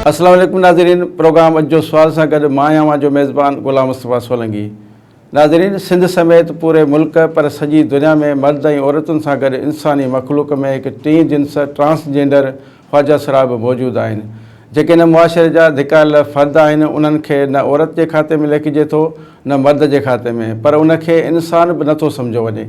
السلام عليڪم ناظرين پروگرام اڄ جو سوال سان گڏ مان آهيان اوهان جو ميزبان غلام مصطفيٰ سولنگي ناظرين سنڌ سميت پوري ملڪ پر سڄي دنيا ۾ مرد ۽ عورتن سان گڏ انساني مخلوق ۾ هڪ ٽين جنس ٽرانسجينڊر خواجه سرا به موجود آهن، جيڪي نه معاشري جا ڌڪايل فرد آهن، انهن کي نه عورت جي کاتي ۾ ليکجي ٿو، نه مرد جي کاتي ۾، پر ان کي انسان به نٿو سمجهيو وڃي،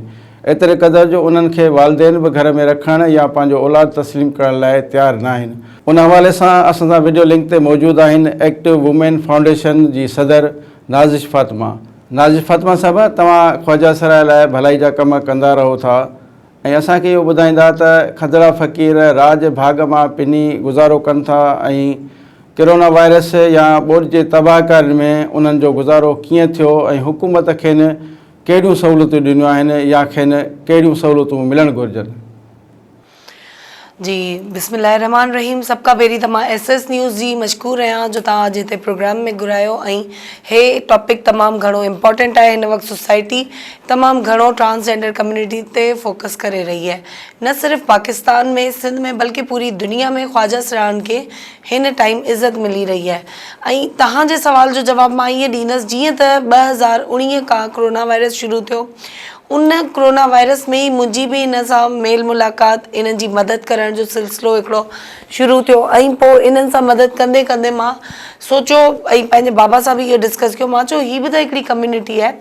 ايتري قدر جو انهن کي والدين به گهر ۾ رکڻ يا پنهنجو اولاد تسليم ڪرڻ لاء تيار ناهن. ان حوالي سان اسان سان وڊيو لنڪ تي موجود آهن ايڪٽو وومين فائونڊيشن جي صدر نازش فاطمه. نازش فاطمه صاحبه توهان خواجه سرا لاء ڀلائي جا ڪم ڪندا رهو ٿا، ۽ اسان کي اهو ٻڌائيندا ته کدڙا فقير راڄ ڀاڳ مان پني گذارو ڪن ٿا ۽ ڪرونا وائرس يا ٻوڏ جي تباهڪارين ۾ انهن جو گذارو ڪيئن ٿيو ۽ حڪومت کين ڪهڙيون سهولتون ڏنيون آهن يا کين ڪهڙيون سهولتون ملڻ گهرجن. جي بسم الله الرحمٰن الرحيم سڀ کان پهرين ته مان ايس ايس نيوز جي مشڪور رهيان جو توهان اڄ هتي پروگرام ۾ گهرايو ۽ هي ٽاپڪ تمام گهڻو امپارٽنٽ آهي هن وقت سوسائٽي تمام گهڻو ٽرانسجينڊر ڪميونٽي تي فوڪس ڪري رهي آهي نه صرف پاڪستان ۾ سنڌ ۾ بلڪه پوري دنيا ۾ خواجه سرهاڻ کي هن ٽائيم عزت ملي رهي آهي ۽ توهان جي سوال جو جواب مان ائين ڏيندس جيئن ته ٻه هزار اڻيهه کان ڪرونا وائرس شروع ٿيو ان ڪورونا وائرس ۾ ئي منهنجي به انهن سان ميل ملاقات، انهن جي مدد ڪرڻ جو سلسلو هڪڙو شروع ٿيو ۽ پوء انهن سان مدد ڪندي ڪندي مان سوچيو ۽ پنهنجي بابا سان به اهو ڊسڪس ڪيو، مان چيو هي به ته هڪڙي ڪميونٽي آهي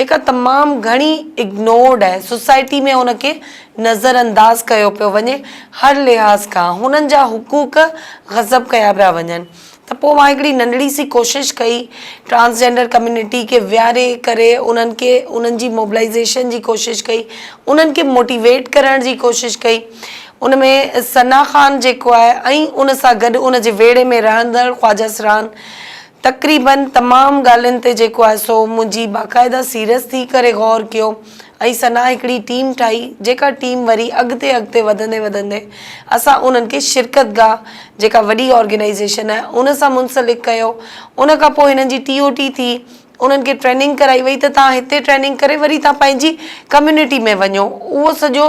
جيڪا تمام گهڻي اگنورڊ آهي، سوسائٽي ۾ ان کي نظر انداز ڪيو پيو وڃي، هر لحاظ کان هنن جا حقوق غصب ڪيا پيا وڃن، ته پوء مان هڪڙي ننڍڙي سي ڪوشش ڪئي ٽرانسجينڊر ڪميونٽي کي ويهاري ڪري انهن کي انهن جي موبلائيزيشن جي ڪوشش ڪئي انهن کي موٽيويٽ ڪرڻ جي ڪوشش ڪئي ان ۾ ثنا خان جيڪو آهي ۽ ان سان گڏ ان جي ويڙهي ۾ رهندڙ خواجه سرهان تقريبن تمام ڳالهين تي جيڪو آهي سو منهنجي باقاعده سيريس ٿي ڪري غور ڪيو ۽ ثنا هڪڙي ٽيم ٺاهي جيڪا ٽيم وري اڳتي اڳتي وڌندي وڌندي اسان انهن کي شرڪت گاهه جيڪا وڏي آرگنائيزيشن آهي ان سان منسلڪ ڪيو ان کان پوء هنن جي ٽي او ٽي ٿي انهن کي ٽريننگ ڪرائي وئي ته توهان هتي ٽريننگ ڪري وري توهان پنهنجي ڪميونٽي ۾ وڃو اهو سڄو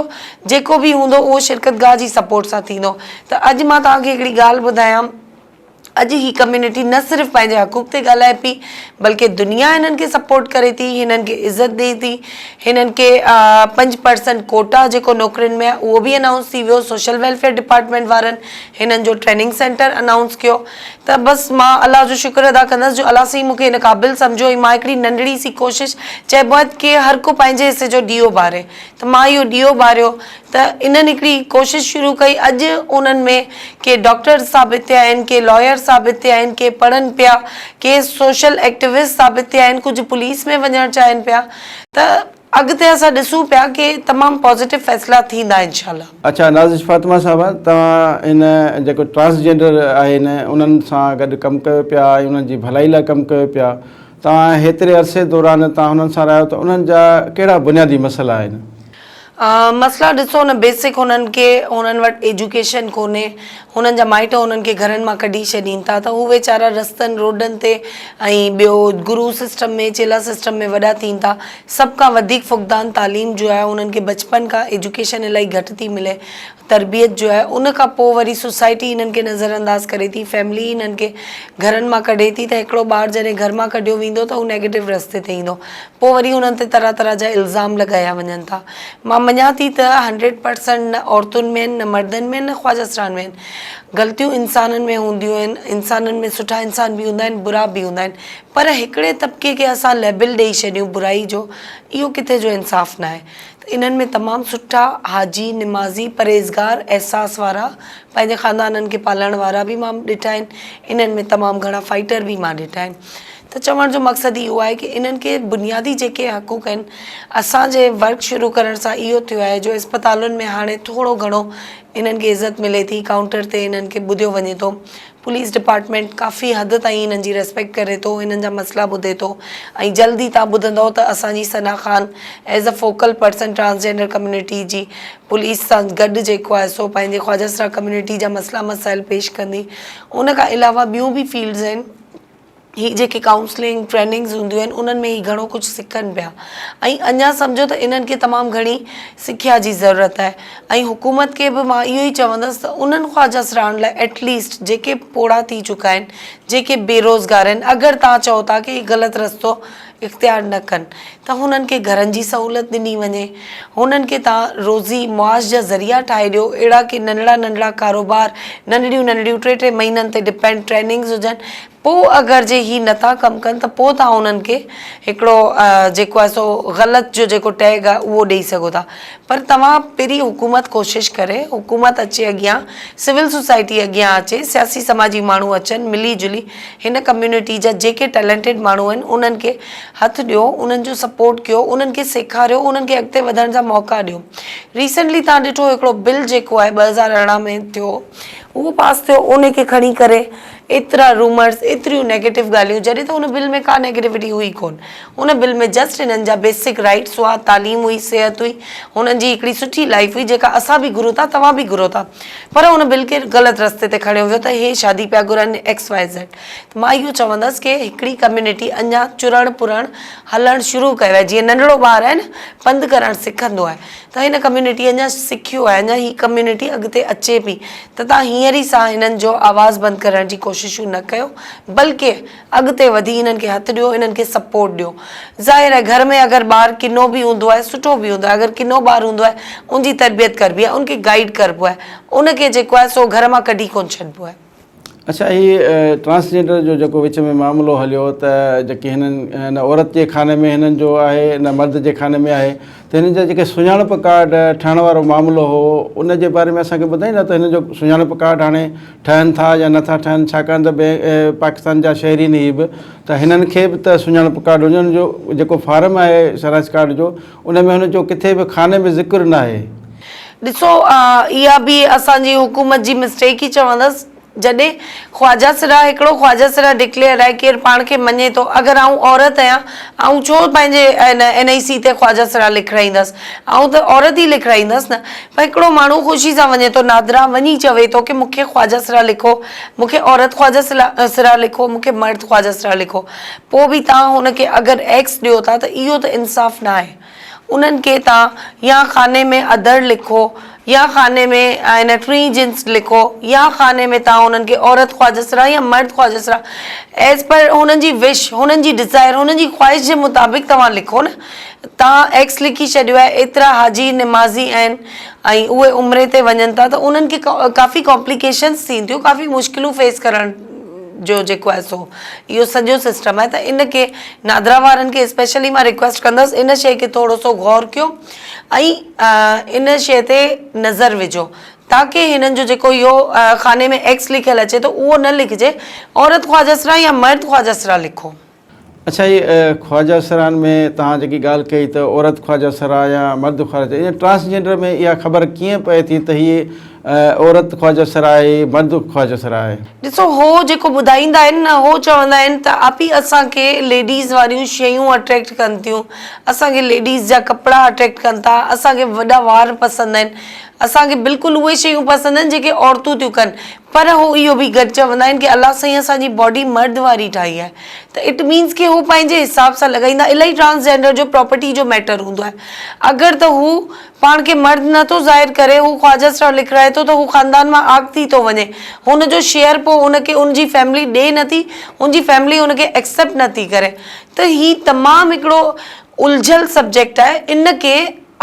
جيڪو به هوندو اهو شرڪت گاهه جي سپورٽ سان ٿيندو ته اڄ مان توهان کي هڪڙي ڳالهه ٻڌايان اڄ هي ڪميونٽي نه صرف پنهنجي حقوق تي ڳالهائي پئي بلڪه دنيا هنن کي سپورٽ ڪري ٿي هنن کي عزت ڏئي ٿي هنن کي پنج پرسنٽ ڪوٽا جيڪو نوڪرين ۾ اهو به انائونس ٿي ويو سوشل ويلفيئر ڊپارٽمنٽ وارن هنن جو ٽريننگ سينٽر انائونس ڪيو ته بس مان الله جو شڪر ادا ڪندس جو الله سائين مونکي هن قابل سمجهيو ۽ مان هڪڙي ننڍڙي سي ڪوشش چئبو آهي ڪي هر ڪو پنهنجي حصي جو ڏيئو ٻاري ته مان اهو ڏيئو ٻاريو ته انهن هڪڙي ڪوشش شروع ڪئي، اڄ انهن ۾ ڪي ڊاڪٽر ثابت ٿيا آهن، ڪي لائر ثابت ٿيا آهن، ڪي پڙهن پيا، ڪي سوشل ايڪٽيوسٽ ثابت ٿيا آهن، ڪجهه پوليس ۾ وڃڻ چاهين پيا ته اڳتي اسان ڏسون پيا ڪي تمام پازيٽو فيصلا ٿيندا انشاء الله. اڇا نازش فاطمه صاحبه توهان هن جيڪو ٽرانسجينڊر آهن انهن سان گڏ ڪم ڪيو پيا ۽ انهن جي ڀلائي لاء ڪم ڪيو پيا توهان هيتري عرصي دوران توهان انهن سان رهيا ته انهن جا ڪهڙا بنيادي مسئلا آهن؟ مسئلا ڏسو نه بيسڪ هنن کي هنن وٽ ايجوڪيشن ڪونهي هنن جا مائٽ هنن کي گهرن مان ڪڍي ڇڏين ٿا ته هو ويچارا رستن روڊن تي ۽ ٻيو گرو سسٽم ۾ چيلا سسٽم ۾ وڏا ٿين ٿا سڀ کان وڌيڪ فقدان تعليم جو آهي هنن کي بچپن کان ايجوڪيشن الائي گهٽ ٿي ملي تربيت جو آهي ان کان پوء وري سوسائٽي هنن کي نظر انداز ڪري ٿي فيملي هنن کي گهرن مان ڪڍي ٿي ته هڪڙو ٻار جڏهن گهر مان ڪڍيو ويندو ته هو نيگيٽو رستي تي ايندو پوء وري انهن تي طرح طرح جا الزام لڳايا وڃن ٿا. مان مڃان ٿي ته هنڊريڊ پرسنٽ نه عورتن ۾ آهن نه مردن ۾ آهن نه خواجه سرهاڻ ۾ آهن. غلطيون انسانن ۾ هونديون آهن. انسانن ۾ سٺا انسان به هوندا آهن برا به هوندا آهن. پر هڪڙي طبقي کي اسان ليبل ڏئي ڇڏيون برائي جو اهو ڪٿي جو انصاف ناهي. ته انهن ۾ تمام سٺا حاجي، نمازي، پرهيزگار، احساس وارا، پنهنجي خاندانن کي پالڻ وارا به مان ڏٺا آهن. انهن ۾ تمام گهڻا فائيٽر به مان ڏٺا آهن. ته چوڻ جو مقصد اهو آهي ڪي انهن کي بنيادي جيڪي حقوق آهن اسان جي ورڪ شروع ڪرڻ سان اهو ٿيو آهي جو اسپتالن ۾ هاڻي ٿورو گهڻو انهن کي عزت ملي ٿي ڪائونٽر تي انهن کي ٻڌيو وڃي ٿو پوليس ڊپارٽمينٽ ڪافي حد تائين انهن جي ريسپيڪٽ ڪري ٿو انهن جا مسئلا ٻڌي ٿو ۽ جلد ئي تان ٻڌندئو ته اسان جي Sana Khan as a focal person transgender community جي پوليس سان گڏ جيڪو آهي سو پنهنجي خواجه سرا ڪميونٽي جا مسئلا مسائل پيش ڪندي ان کان علاوه ٻيون به فيلڊز آهن هي جيڪي ڪائونسلنگ ٽريننگز هونديون آهن انهن ۾ هي گهڻو ڪجهه سکن پيا ۽ اڃا سمجهو ته انهن کي تمام گهڻي سکيا جي ضرورت آهي ۽ حڪومت کي به مان اهو ئي چوندس ته انهن خواجه سران لاء ايٽ ليسٽ جيڪي پوڙها ٿي چڪا آهن جيڪي بيروزگار آهن اگر تان چئو ٿا ڪي هي غلط رستو اختيار نه ڪن ته هنن کي گهرن جي سهولت ڏني وڃي، هنن کي تان روزي معاش جا ذريعا ٺاهي ڏيو، اهڙا ڪي ننڍڙا ننڍڙا ڪاروبار، ننڍڙيون ننڍڙيون ٽي ٽي مهينن تي ڊپينڊ ٽريننگز هجن، پوء اگر جي هي نه ٿا ڪم ڪن ته پوء تان هنن کي هڪڙو جيڪو آهي سو غلط جو جيڪو ٽيگ آهي اهو ڏئي سگهو ٿا پر توهان پهرين حڪومت ڪوشش ڪري حڪومت اچي اڳيان سول سوسائٽي اڳيان اچي سياسي سماجي ماڻهو اچن ملي جلي هن ڪميونٽي جا جيڪي ٽيلنٽيڊ ماڻهو آهن انهن کي هٿ ڏيو انهن جو سپورٽ ڪيو انهن کي سيکاريو انهن کي اڳتي وڌڻ جا موقعا ڏيو ريسينٽلي تان ڏٺو هڪڙو بل جيڪو آهي ٻه هزار ارڙهن ۾ ٿيو اهو پاس ٿيو ان کي کڻي ڪري ايترا رومرس ايتريون نيگيٽو ڳالهيون جڏهن ته ان بل ۾ ڪا نيگيٽوٽي هئي ڪون هن بل ۾ جسٽ هنن جا بيسڪ رائيٽس هئا، تعليم هئي، صحت هئي، هنن جي هڪڙي سٺي لائيف هئي جيڪا اسان به گهرون ٿا توهان به گهرو ٿا پر هن بل کي غلط رستي تي کڻيو ويو ته هي شادي پيا گهرن ايڪس وائي زيڊ ته مان اهو چوندس ڪي هڪڙي ڪميونٽي اڃا چرڻ پرڻ هلڻ شروع ڪيو آهي جيئن ننڍڙو ٻار آهي نه پنڌ ڪرڻ سکندو آهي ته هن ڪميونٽي اڃا سکيو آهي اڃا هي ڪميونٽي اڳتي اچي پئي ته تان هينئر ئي سان هنن جو آواز بند ڪرڻ جي ڪوششون نه ڪيو بلڪه اڳتي وڌي انهن کي هٿ ڏيو انهن کي سپورٽ ڏيو ظاهر آهي گهر ۾ اگر ٻار ڪنو به هوندو آهي سٺو به هوندو آهي اگر ڪنو ٻار هوندو آهي ان جي تربيت ڪربي آهي ان کي گائيڊ ڪربو آهي ان کي جيڪو آهي سو گهر مان ڪڍي ڪونه ڇڏبو آهي. اڇا هي ٽرانسجينڊر جو جيڪو وچ ۾ معاملو هليو ته جيڪي هنن نه عورت جي خاني ۾ هنن جو آهي نه مرد جي خاني ۾ آهي ته هنن جا جيڪي سڃاڻپ ڪارڊ ٺهڻ وارو معاملو هو ان جي باري ۾ اسان کي ٻڌائيندا ته هنن جو سڃاڻپ ڪارڊ هاڻي ٺهن ٿا يا نه ٿا ٺهن ڇاڪاڻ ته پاڪستان جا شهرين هي به ته هنن کي به ته سڃاڻپ ڪارڊ هجڻ هن جو جيڪو فارم آهي شناس ڪارڊ جو ان ۾ هن جو ڪٿي به خاني ۾ ذڪر ناهي. ڏسو اها به اسان جي حڪومت جي مسٽيڪ ئي چوندس. جڏهن خواجه سرا هڪڙو خواجه سرا ڊڪليئر آهي ڪير پاڻ کي مڃي ٿو اگر آئون عورت هيان آئون ڇو پنهنجي ان ان ئي سي تي خواجه سرا لکرائيندس آئون ته عورت ئي لکرائيندس نه پر هڪڙو ماڻهو خوشي سان وڃي ٿو نادرا وڃي چوي ٿو ڪي مون کي خواجه سرا لکو مون کي عورت خواجه سلا سرا لکو مون کي مرد خواجه سرا لکو پوء به تان هن کي اگر ايڪس ڏيو ٿا ته اهو ته انصاف ناهي. انهن کي تان يا خاني ۾ ادڙ لکو يا خاني ۾ آئينه ٽرين جنس لکو يا خاني ۾ تان انهن کي عورت خواجسرا يا مرد خواجسرا ايز پر هنن جي وش هنن جي ڊزائر هنن جي خواهش جي مطابق توهان لکو نه تان ايڪس لکي ڇڏيو آهي ايترا حاجي نمازي آهن ۽ اهي عمري تي وڃن ٿا ته انهن کي ڪافي ڪامپليڪيشنس ٿين ٿيون ڪافي مشڪلون فيس ڪرڻ جو جيڪو آهي سو اهو سڄو سسٽم آهي ته ان کي نادرا وارن کي اسپيشلي مان ريڪويسٽ ڪندس ان شيء کي ٿورو سو غور ڪيو ۽ ان شيء تي نظر وجهو تاڪي هنن جو جيڪو اهو خاني ۾ ايڪس لکيل اچي ٿو اهو نه لکجي عورت خواجه سرا يا مرد خواجه سرا لکو. اڇا هي خواجه سران ۾ توهان جيڪي ڳالهه ڪئي ته عورت خواجه سرا يا مرد خواجه سرا ٽرانسجينڊر ۾ اها خبر ڪيئن پئي ٿي ته هي عورت خواجه سر آهي، مرد خواجه سر آهي. ڏسو هو جيڪو ٻڌائيندا آهن نه هو چوندا آهن ته آپي اسان کي ليڊيز واريون شيون اٽريڪٽ ڪن ٿيون اسان کي ليڊيز جا ڪپڙا اٽريڪٽ ڪن ٿا اسان کي وڏا وار پسند آهن اسان کي بلڪل اهي شيون پسند آهن جيڪي عورتون ٿيون ڪن پر هو اهو به گڏ چوندا آهن ڪي الله سائين اسان جي باڊي مرد واري ٺاهي آهي ته اٽ مينز ڪي هو پنهنجي حساب سان لڳائيندا الائي ٽرانسجينڊر جو پراپرٽي جو ميٽر هوندو آهي اگر ته هو پاڻ کي مرد نه ٿو ظاهر ڪري، هو خواجه سان لکرائي ٿو ته هو خاندان مان آگ ٿي ٿو وڃي. هن جو شيئر پوء هن کي هن جي فيملي ڏي نه ٿي، هن جي فيملي هن کي ايڪسيپٽ نه ٿي ڪري ته هي تمام هڪڙو الجهيل سبجيڪٽ آهي، ان کي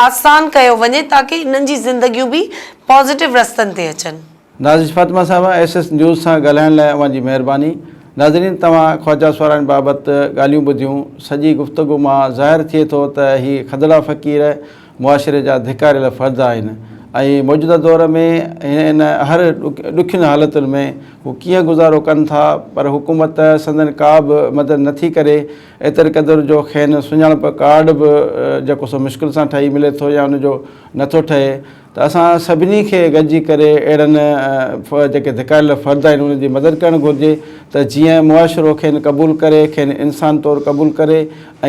آسان ڪيو وڃي تاڪه انهن جي زندگيون به پازيٽو رستن تي اچن. نازش فاطمه صاحبه ايس ايس نيوز سان ڳالهائڻ لاء اوهان جي مهرباني. ناظرين توهان خواجه سوارائڻ بابت ڳالهيون ٻڌيون، سڄي گفتگو مان ظاهر ٿئي ٿو ته هي کدڙا فقير معاشري جا ڌڪاريل فرد آهن ۽ موجوده دور ۾ هن هر ڏکين حالتن ۾ هو ڪيئن گذارو ڪن ٿا پر حڪومت سندن ڪا به مدد نه ٿي ڪري ايتري قدر جو کين سڃاڻپ ڪارڊ به جيڪو سو مشڪل سان ٺهي ملي ٿو يا ان جو نه ٿو ٺهي ته اسان سڀني کي گڏجي ڪري اهڙن جيڪي ڌڪايل فرد آهن انهن جي مدد ڪرڻ گهرجي ته جيئن معاشرو کين قبول ڪري کين انسان طور قبول ڪري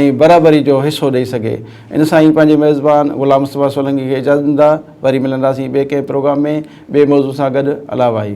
۽ برابري جو حصو ڏئي سگهي ان سان ئي پنهنجي ميزبان غلام مصطفيٰ سولنگي کي اجازت ڏيندا وري ملنداسين ٻئي ڪنهن پروگرام ۾ ٻئي موضوع سان گڏ الا واهي.